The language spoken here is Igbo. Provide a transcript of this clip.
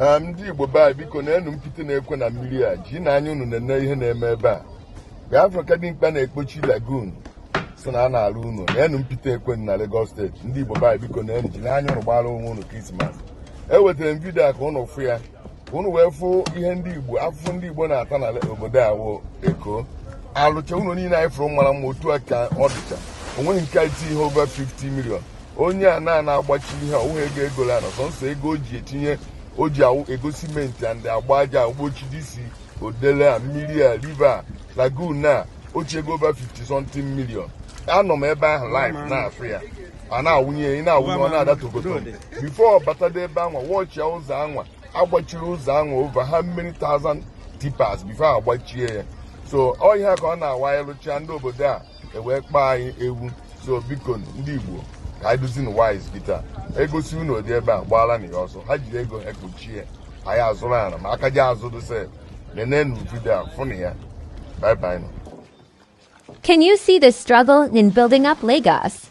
ndị Igbo be anyị biko na enu mpite na-ekwe na mmiri a jinu anya unu nene ihe na-eme ebe a ga-afụ ka dimkpa na-ekpochi lagoon so na a na-alụ ụnọ na enu mpite ekwe na Lagos steeti ndị Igbo be anyị biko nenu jinu anya unu gbara onwe unu krismas ewetara m vidio a ka ụnụ fụ ya ka ụnụ wee fụ ihe ndị Igbo afụfụ ndị Igbo na-ata na obodo a wụ Eko alụcha ụnọ niile anyị fụrụ mara mma otu a ka ọ dịcha onweghị nke iti ihe over 50 million onye a na na-agbachi ihe ọwụghị ego e golu ana sọnsọ ego o ji etinye o ji awụ ego simenti and agba aja ogbochi disi odele a mmiri a river a lagoon a ochi ego over 50 something million anọ m ebe ahụ live na-afụ ya a na-awụnye ya ị na-awụnye ọ na-ada togoto bifo ọ batada ebe anwa wụchie ụzọ anwa agbachiri ụzọ anwa over how many thousand tippers bifo agbachie ya so ọ ihe a ka ọ na-awụ a lụcha ndị obodo a ewee kpọọ anyị ewu so biko ndị Igbo ka anyị dịzịnụ wise kịta egosi unu ụdị ebe a gbaala na ya ọsọ ha jiri ego ekpuchie anyị azụrụ ala ma aka ji azụ dose nenenu vidio a fụnụ ya bye bye nụ Can you see the struggle in building up Lagos?